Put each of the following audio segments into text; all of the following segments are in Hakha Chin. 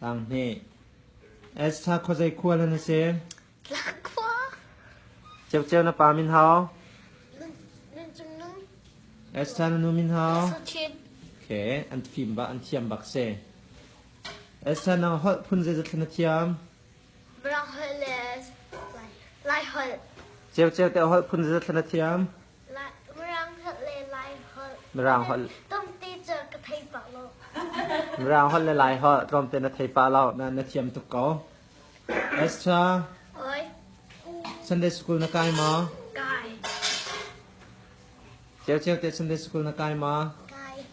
Tanghnih. Esther khuazei khua hlan a si? Tlang khua. Ceu Ceu na pa min hao? Esther na nu min hao? Sachin. Okay, an fim bak, an thiam bak si. Esther na holh phun zei zathlan na thiam? Mrang holh le lai holh. Ceu Ceu te holh phun zei zathlan na thiam? Mirang holh le Lai holh tlawmte na thei pah lo na thiam tuk ko. Esther Sunday school na kai maw? Kai. Ceu ceu te Sunday school na kai maw? Kai.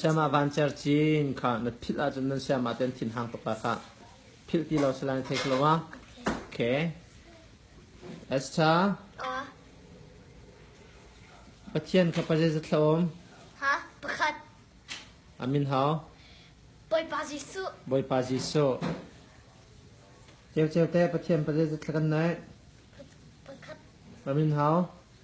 Siamah vancer cin kha na philh ahcun nan siamah ten thinhang tuk ah kah philh ti lo si lai thei lo ah okay Esther Pathian kha pa zeizat thla um ha pakhat amin hao Bawipa Jesuh Bawipa Jesuh Ceu ceu te Pathian pa zeizat thla kan naih Amin hao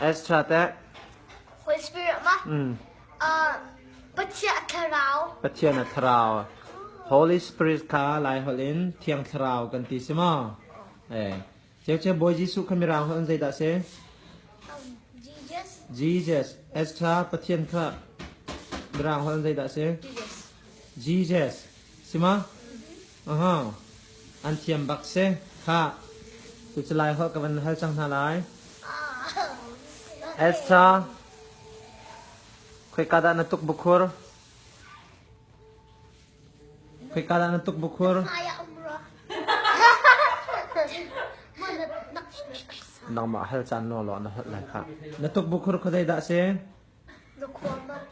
Extra teh. Holy Spirit ma? Mm. Uh, Pathian thlarau. Pathian thlarau. Holy Spirit kha lai hol in thiang thlarau kan ti si ma? Eh. Chek chek Boy Jesu kha mirang hol an zeidah se? Jesus. Extra Pathian kha mirang hol an zeidah se? Jesus. Jesus. Sima? Mm-hmm. Aha, an thiam bak si. Khah, tu cu Laiholh ka van hal cang hna lai. Esther, khoika dah na tuk bukhur? Khoika dah na tuk bukhur? Nangmah hal caan nuo law na holh lai kha. Na tuk bukhur khuadei dah si? Na khuam ah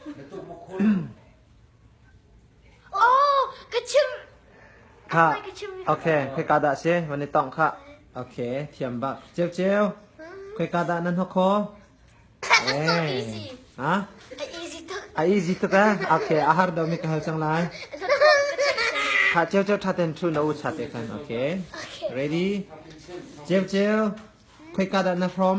khoika dah a si? Van i tongh khah. Ok, thiam bak. Ceu ceu. Khoika dah nan hok kho? Ha? A easy tuk ah. Ok, a har do mi ka hal cang lai. Tha ceu ceu tha ten thu na u cha te kan. Ok. Ready? Ceu ceu. Khoika dah na from?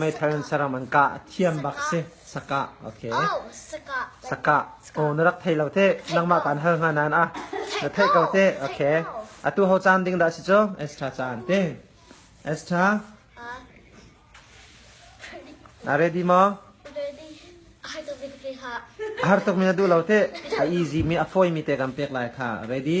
Meithal in saram an kah. A thiam bak si. Sakah. Okay. Sakah. Aw na rak thei lo te. Nangmah kan hal hnga nan a. Na theih ko te. Okay. Atu ho caan ding dah si cu. Extra caan te. Extra. Na ready mo? Har tuk mi na duh lo te. A easy mi a fawi mi te kan pek lai kha. Ready?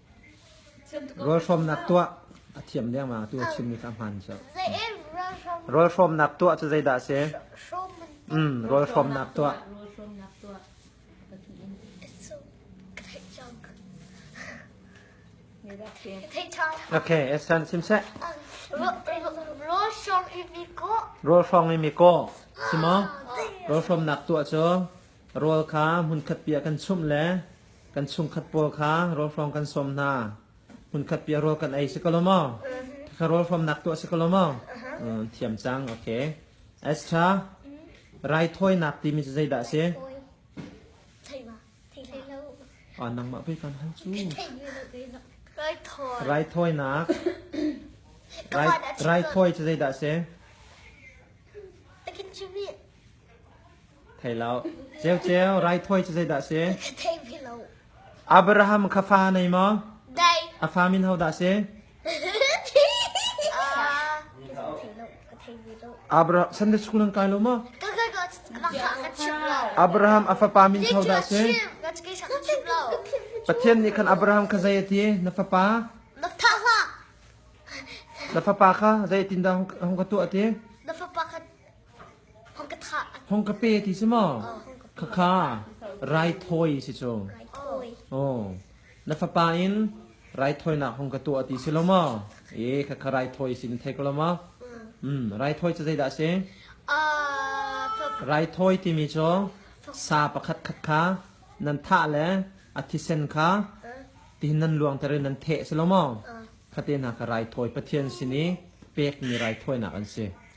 Rawlhrawmnak tuah a thiam dengmang tu a chimmi kha hmaan cu Rawlhrawmnak tuah cu zeidah a si? Mm, rawlhrawmnak tuah. Okay, Esan sim seh. Rawlhrawm i mi kaw. Rawlhrawmnak tuah cu rawl kha hmunkhat piah kan chumh le kan chungkhat pawl kha rawl hrawng kan sawm hna hmunkhat piah rawl kan ei si ko lo maw kha rawl hrawmnak tuah si ko lo maw thiam cang okay extra raithawinak timi cu zeidah a si a nang mah pei kan han cu raithawinak raithawi cu zeidah a si Thei lo. Ceuceu, raithawi cu zeidah a si? Thei ve lo. Abraham kha fa nei maw? Dai. A fa min ho dah a si? Abraham, Sunday school nan kai lo maw? Abraham a fapa min ho dah a si? Pathian nih khan Abraham kha zei a ti? Na fapa? Na fapa kha zei tin dah hong ka tuah a ti? Na fapa kha Hong ka pe ti si maw? Khakha raithawi si cu. Aw. Na fapa in raithawinak hong ka tuah ti si lo maw? E, khakha raithawi si na thei ko lo maw? Mm, raithawi cu zeidah a si? Raithawi timi cu sa pakhatkhat kha nan thah le a thisen kha tihin nan luangter in nan theh si lo maw? Fate hna kha raithawi Pathian sin i pekmi raithawinak an si.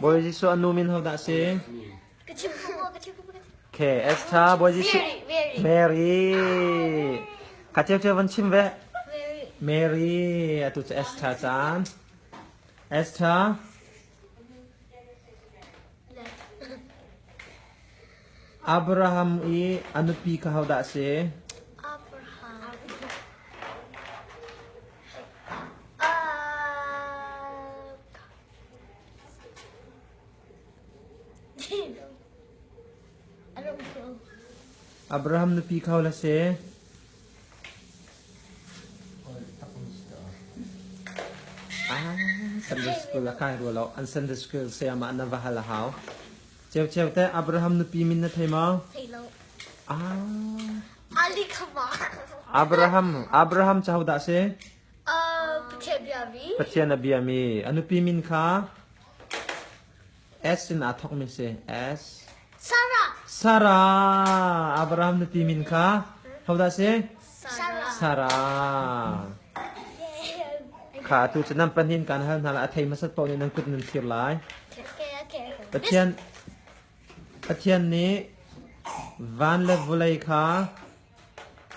Bawi Jesuh anu min ho dah si? Okay, Esther, Bawi Jesuh Mary. Ka cheu cheu van chim ve. Mary, atu cu Esther caan. Esther, Abraham i a nupi kha hodah a si? Abraham nupi kha hodah a si? Sunday school a kai rual lo an Sunday school sayama na va hal hau cheu cheu te Abraham nupi min na thei ma ah Ali kama Abraham Abraham chau da se uh pathian bia mi pathian a bia mi anupi min kha S sinah thawkmi si. S. Sarah. Sarah. Abraham na ti min kha hodah si? Sarah. Sarah. Kha tu cu nan pahnin kan hal hna la a thei masat paw nih nan kut nan thir lai. Pathian Pathian nih van le vulei kha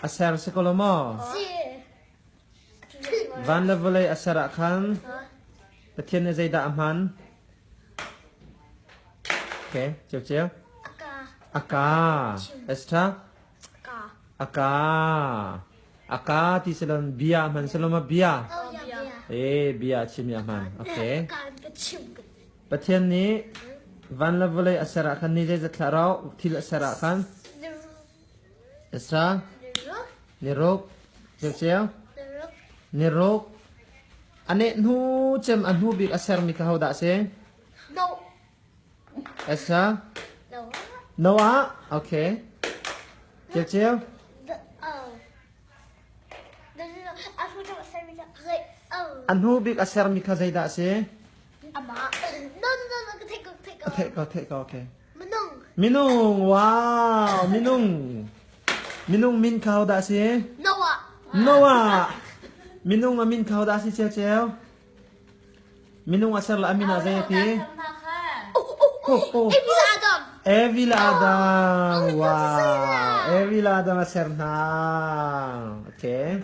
a ser si ko lo maw? Si. Van le vawlei a ser ah khan Pathian nih zeidah a hman? A ka s ṭha. A ka. A ka ti si lo bia a hman si lo ma bia? Ee bia a chim a hman. Okay. Pathian nih van le vawlei a ser ah khan ni zeizat hlah rau thil a ser ah khan Tasa, niruk, ceuceu, niruk. A neh hnu cem a hnu bik a sermi kha hodah a si? Tasa, Noah. Okay. Ceuceu, A hnu bik a sermi kha zeidah a si? Minung wow minung minung min khao dah si Noah Noah minung a min khao dah si ceo ceo minung a ser la amin a zei ti Evil Adam wow Evil Adam a ser hna okay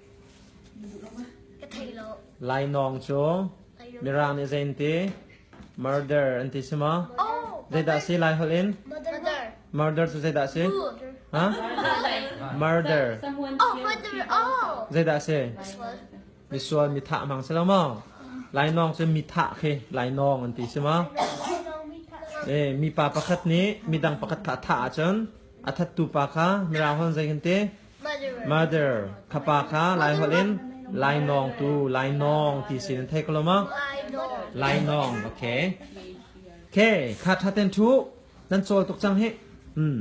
Lainawng cu Mirang nih zeiti? Murder an ti si maw? Zeidah si Lai holh in? Murder cu zeidah si? Ha? Murder. Zeidah si? Misual mithah hmang si lo maw? Lainawng cu mithah khi lainawng an ti si maw? Eh, mipa pakhat nih midang pakhat kha a thah ahcun a thattu pa kha Mirang holh in zei kan ti? Mother, khapa kha laiholh in lainawng tu lainawng ti sin in thei ko lo ma lainawng okay okay kha thaten thu nan chawl tuk cang hi hmm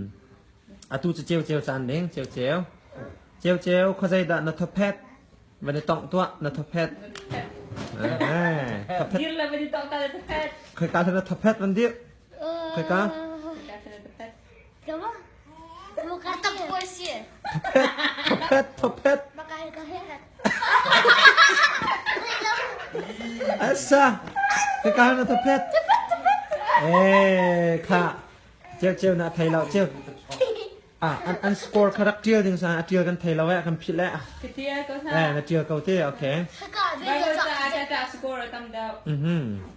atu cu ceu ceu caan ding ceu ceu ceu ceu khozai dah na thophet van i tong tua na thophet thophet dir la van i tong ta thophet khoi ka na thophet van dir khoi ka Asa, kekal na tapet. Eh, kha. Ceu ceu na thei lo ceu. Ah, an an score kha rak tial ding sa, a tial kan thei lo eh, kan phit le ah. Ketial ko sa. Eh, na tial ko te, okay. Haka, Vai ko ta, ta ta score tam dao. Mhm.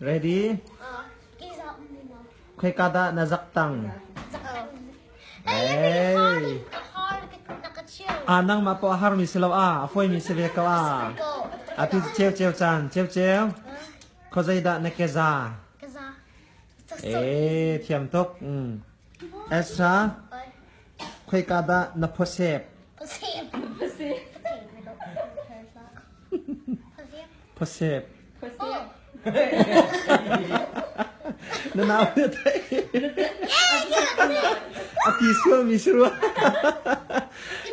Ready? Khoika dah na zak tang? Hey. Ah, nangmah po a har mi si lo ah, a foi mi si ve ko ah. A pi cheu cheu chan, cheu cheu. Kho zei dah na ke za? Eh, thiam tuk. Mm. Extra? Khoika dah na khuasek? Khuasek. Na nau na theih? A ti sualmi si rua.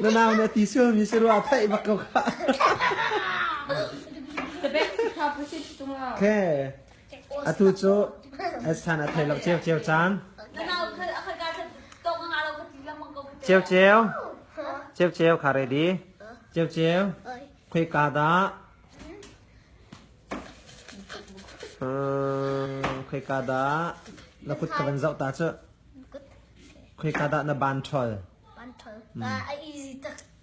Na nau na ti sualmi si rua theih bak ko kha. The best car pusit tung ah. Okay. atu cu san a thei lo ceu ceu caan ceu ceu ceu ceu kha re di ceu ceu khui ka da khui ka da la kut ka van zau ta cu khui ka da na ban thol ban thol a easy tak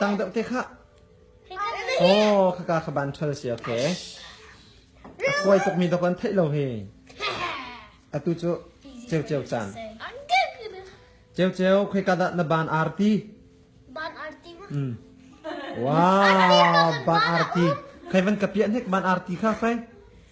Tang deuh te kha. Oh, khaka kha ban ṭhal si, okay. A kuai tukmi dok an theih lo hi. Atu cu ceu ceu caan. Ceu ceu, khui kada na ban arti. Ban arti. Mm. Wow, ban arti. Kai van kapiak nek ban arti kha, khai.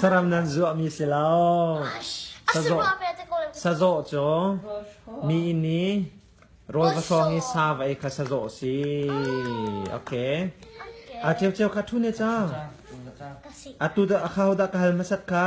Saram nan zuahmi si lo. Sazawh, sazawh cu mi inn i rawl va hrawng i sa va ei kha sazawh si. Okay. A cheu cheu kha thu ne ca. Atu da kha hodah ka hal masat kha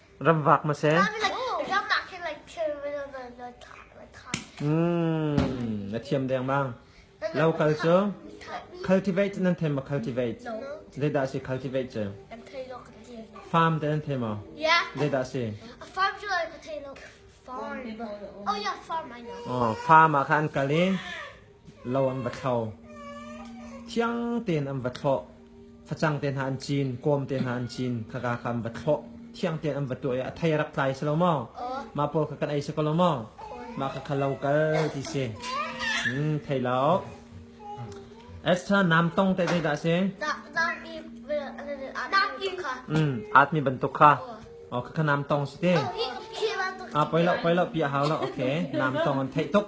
ram vak ma se. Mm, na thiam deng mang. Local cu cultivate nan them ma cultivate. Zeidah si cultivate cu? Farm te nan them o. Zeidah si? A farm cu ai ka thei lo. Farm. Oh yeah, farm I know. Oh, farm ah khan kal i lo an va thlo. Thiang tein an va thlawh. Facang te hna an cin, kawm te hna an cin, khaka kha an va thlawh. Thiang tein an va tuah i a thei rak tlai si lo maw? Mah pawl kha kan ei si ko lo maw? Mah kha kha lo kal ti si. Hmm, thei lo. Esther nam tong te te dah si? Hmm, atmi bantuk kha. Oh, kha nam tong si te. Ah, poi lo, poi lo, pi a hau lo. Okay, nam tong an theih tuk.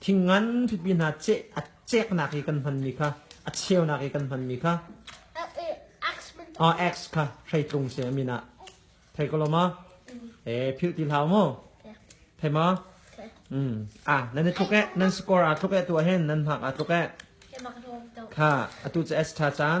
Thingngan pipi hna ceh, a ceknak i kan hmanmi kha, a cheunak i kan hmanmi kha, ax kha hrei tlung se amin ah thei ko lo ma e phil ti hlau mu thei ma mm a nan i tluk e nan score a tluk e tu ah hin nan hak a tluk e kha atu cha s tha chan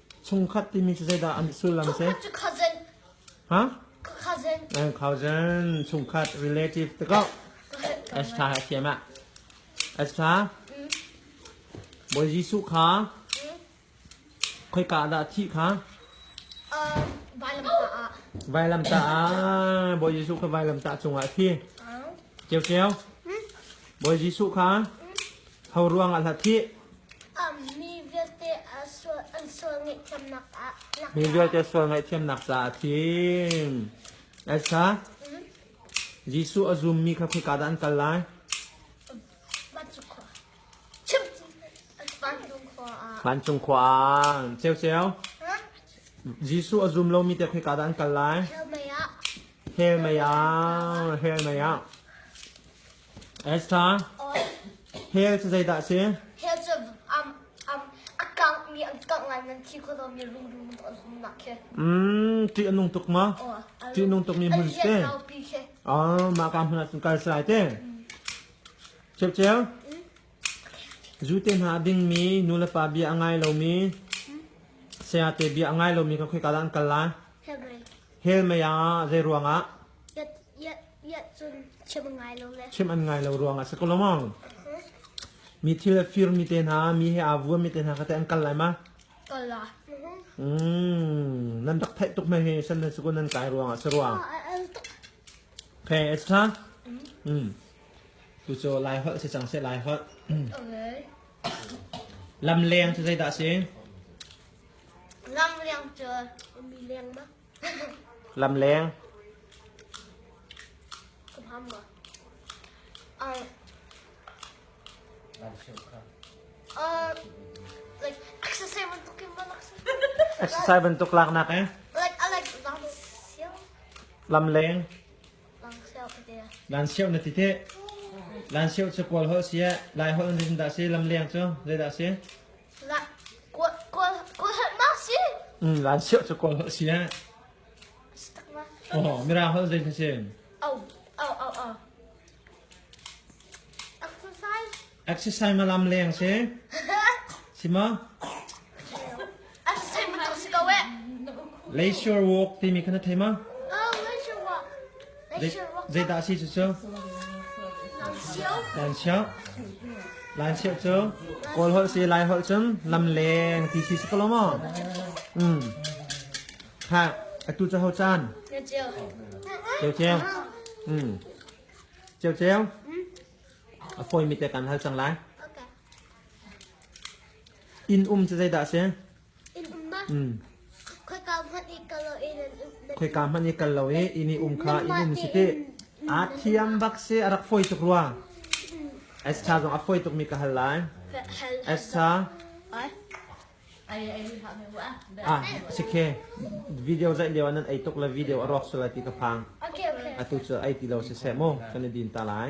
Chungkhat timi cu zeidah an sullam si? Cousin. Ha? Cousin. Eh, cousin. Chungkhat relative te ko. As tha thiam ah. As tha. Bawi Jesuh kha khoika dah thih kha? Vailamtah ah. Vailamtah ah. Bawi Jesuh kha vailamtah cungah thi. Ceu ceu. Bawi Jesuh kha Ho ruangah hlat hih? Mi vialte an sual ngaihthiamnak ah Mi vialte sual ngaihthiamnak caah a thim. Elsa, Jesuh a zummi kha khoika dah an kal lai? Vancung khua ah. Ceuceu, Jesuh a zum lomi te khoika dah an kal lai? Hell mei ah. Hell mei ah. Esther, hell cu zeidah a si? Hell cu um, um, a kangmi an kang ngai nan thi kho mi rung rung an hum nak khi. Mm, ṭih a nung tuk ma? Ṭih a nung tuk mi hmun si te. Ah, mah ka hmun ah cun kal sai te. Cheu cheu. Zute hna dingmi nulepa bia a ngai lomi saya te bia a ngai lomi kan khoi kal an kal lai. Hell mei ah zei ruangah? Chim an ngai lo ruang ah si ko lo mong. Mi thil a fir mi te hna, mi he aa vuam mi te hna kha te an kal lai ma? Mm, nan rak theih tuk me hi san nan sukun nan kai ruang ah si ruang. Okay, it's time. Mm. Tu cho lai hot si chang se lai hot. Lam leng tu zei dah si? Lam liang cu mi liang ma? Lamleng. Exercise bantuk laknak eh. Lamleng. Lansio na tite. Lansio cu kual ho sia. Lai ho rin da si lamleng cu. Zei da si? Laan siah cu kawl a si eh. Oh, Mirang holh zei si? Exercise malam leng si. Si ma? Leisure walk timi kana thei ma? Zeidah a si cucu? Lanchiao. Lanchiao cu Kawl holh si Lai holh cun lamleng ti si si ko lo maw? Mm. Ha, atu cu ho caan? Ceu ceu. Mm. Ceu ceu. A fawi mi te kan hal cang lai. Inn um cu zeidah a si? Khoika hmanh i kal lo i inn i um kha inn um si tih. Aa thiam bak si a rak fawi tuk rua. Esther zong a fawi tukmi ka hal lai. Esther. Ah, sik he. Video zaih lio nan ei tuk la video a rawk sul lai ti ka phang. Atu cu ei ti lo si se mu. Kan i din ta lai.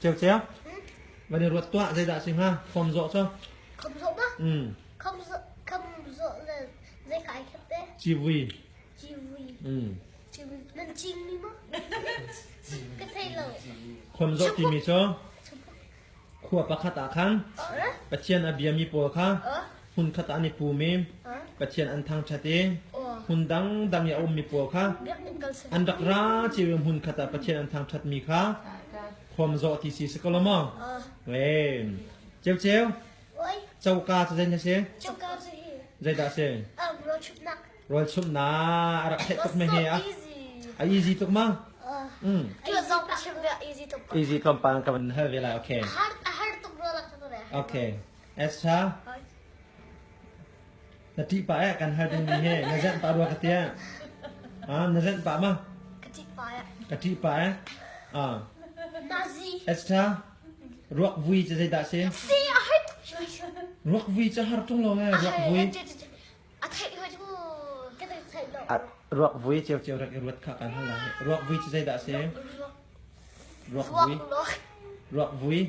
Ceu ceu. Van i ruat tuah zeidah si hnga? Khom zawh cu. Khom zawh ba? Mm. Khom zawh khom zawh le zei kai khep te? Civui. Civui. Mm. Civui. Nan cing mi mo? Ka thei lo. Khom zawh timi cu. Khua pakhat ah khan. Pathian a biami pawl kha. hmunkhat ah an i pum i Pathian an thangṭhat i hmun dangdang i a ummi pawl kha an rak ra cio i hmunkhat ah Pathian an thangṭhatmi kha khawmzawh ti si si ko lo maw? Ceu ceu coka cu zeitin a si? Zeidah a si? Rawlchumhnak a rak theih tuk meh hi a a easy tuk ma? Mm. Easy tlawmpal kan hal ve lai okay. A har tuk rual ah kan Okay. Esther, na ṭih pah eh kan hal dingmi hi na zenh pah rua ka tiah. Ah, na zenh pah ma? Ka ṭih pah eh. Ka ṭih pah eh. Ah, Nazi. Esther, ruak vui cu zeidah si? Si a hat. Ruak vui cu har ṭung lo eh, ruak vui. Ruakvui ciocio rak i ruat kha kan hal lai. Ruakvui cu zeidah a si? Ruakvui. Ruakvui.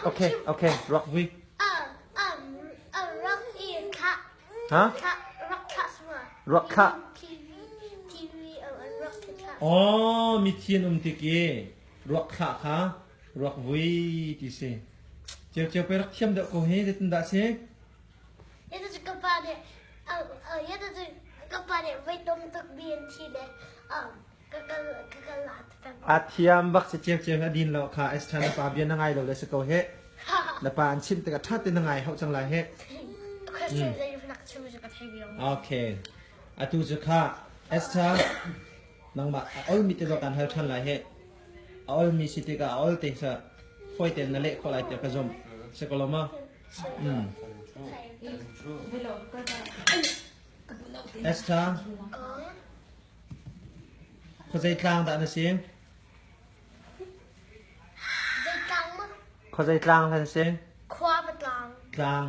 Okay, okay. Ruakvui. Ha? Ruakha. Oh, mi thi an um tik i ruakha kha ruak vui ti si ceu ceu pe rak thiam deuh ko he zetin dah si itu cu kapa nih itu cu kapa nih voi tom tuk bi an thi de a thiam bak si ceu ceu na din lo kha esta na pa bian na ngai lo le si ko he na pa an chim tik a that na ngai hau chang la he okay atu chu kha esta nangma oi mi te lo kan hal than la he A olmi si tikah a ol te seh fawi tein na leh khawh lai tiah ka zumh. Si ko lo ma? Mm. Esther, khuazei tlang dah na si? Zeitlâng mah? Khuazei tlang kan si? Khua va tlang. Tlang.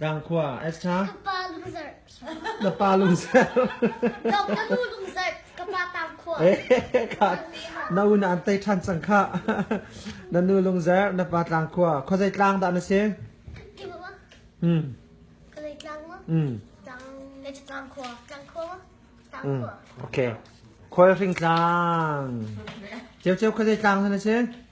Ṭangkhua Esther na pa lungser na un an tei ṭhan cang khah na nu lungzer na pa tlangkhua khuazei tlang dah na si Okay khual hring tlang ceu ceu khuazei tlang dah na si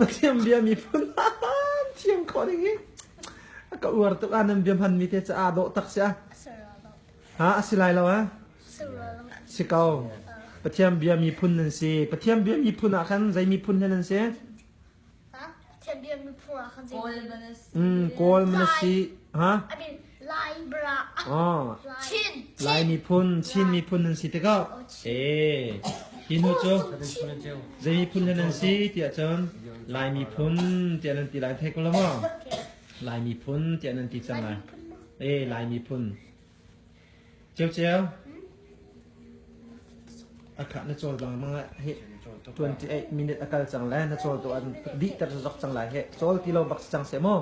Pathian bia miphun han thiam kho ding hi ka uar tuk ah nan bia hman mi te ca a dawh tak si a ha a si lai lo a si ko Pathian bia miphun nan si Pathian bia miphun ah khan zei miphun he nan si Pathian bia miphun ah khan Kawl mana si ha I mean Lai miphun Chin miphun nan si tikah hi nu cu zei miphun hlen an si tiah cun Lai miphun tiah nan ti lai thei ko lo maw Lai miphun tiah nan ti cang lai Lai miphun Ceu Ceu akha na cawl bang mang hi 28 minute akal cang le na cawl tu an dih ter zok cang lai he cawl ti lo bak cang se maw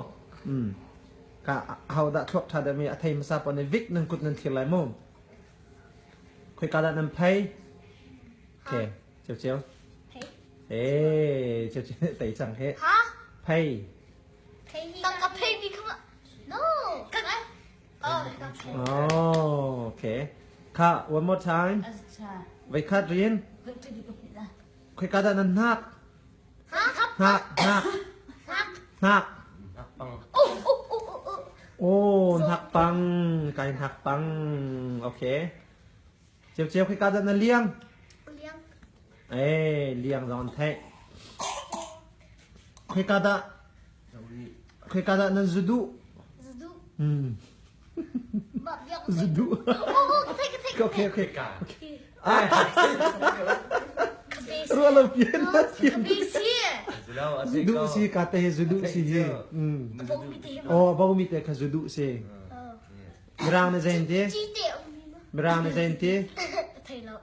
ka ahodah thluak ṭha dami a thei hmasa paoh nih vik nan kut nan thlir lai mu khoi ka dah nan phei ke ceu ceu eh ceu ceu tei chang he phei tang ka phei mi kha no ka oh okay ka one more time vai khat rian Khoika dah nan hnak? Hnak, hnak, hnak. Oh, hnak pang, kai hnak pang. Okay. Ceu ceu khoika dah na liang? Liang. Eh, liang zong an theih. Khoika dah? Khoika dah nan zudu? Zudu. Hmm. Rualo pian na pian. Zudu si ka te zudu si hi. Oh bau mi te kha zudu si. Mirang na zain te. Mirang na zain te.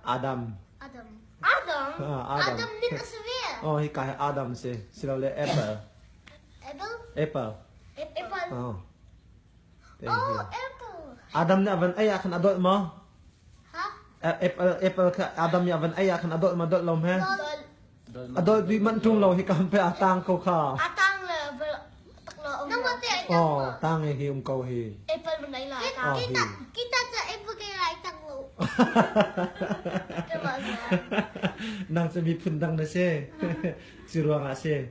Adam. Adam. Adam ni na save. Oh hi ka Adam si. Silo le apple. Apple. Apple. Apple. Oh. Adam nih a van ei ah khan a dolh maw? Apple kha Adam nih a van ei ah khan a dolh maw dolh lo hme? A dolh duih manh ṭung lo hi ka hun pe a tang ko kha. A tang le Oh, tang hi um ko hi. Apple man lai la. Kita kita kita cha apple ke lai tang lo. Nang cha mi phun dang na se. Si ruang ah se.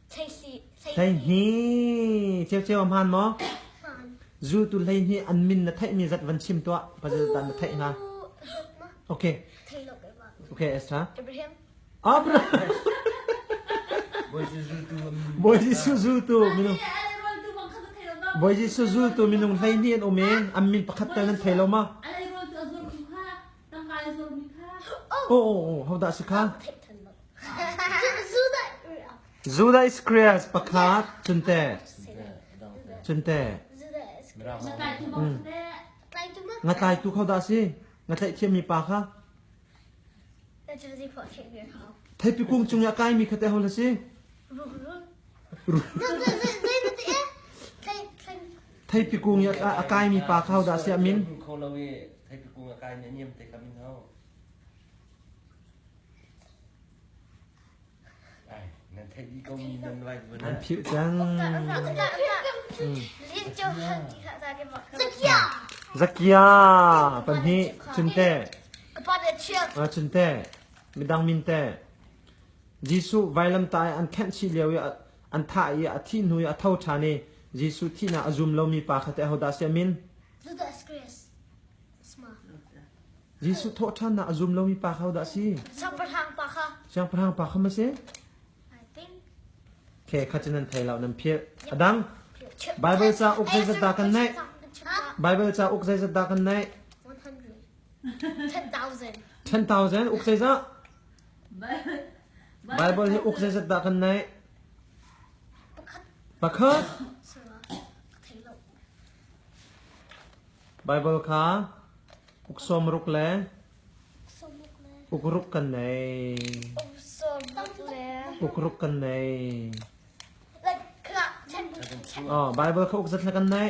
Hleihnih ceuceu a hmaan maw? Zultu hleihnih an min na theihmi zat van chim tuah. Pasal zat na theih hnga. Okay. Okay, Esther. Abraham. Abraham. Bawi Jesuh zultu minung Bawi Jesuh zultu minung hleihnih an um i an min pakhat tal nan thei lo ma? Tangka in zo mi kha. Oh, oh, oh, how dah si kha? Zudai Square pakhat chunte chunte nga tlai tu kho dah si nga tlai thiam mi pa kha theipi kung chung ya kai mi khate ho la si Theipi kung ya a kaimi pa kha hodah siah min kho lo i theipi kung a kaimi a niam te kha min ho nan thei di ko mi nan vai bu nan phir cang zakia pahnih chunte chunte midang minte Jesuh vailam ta an khenh chih lio i An thah i a thih hnu i a tho ṭhan i Jesuh thihnak a zum lomi pa kha teh ahodah a si a min? Jesuh thawhṭhannak a zum lomi pa kha ahodah a si? Siangpahrang pa kha. Siangpahrang pa kha ma si? Okay, kha cu nan thei lo, nan philh. A dang Baibal cauk zeizat dah kan neih? Baibal cauk zeizat dah kan neih? 10,000. 10,000? Uk zeizat? Baibal hi uk zeizat dah kan naih? Pakhat Baibal kha uk sawmruk le ukruk kan nei. Ukruk kan nei. Oh, Baibal kha uk zat le kan nei.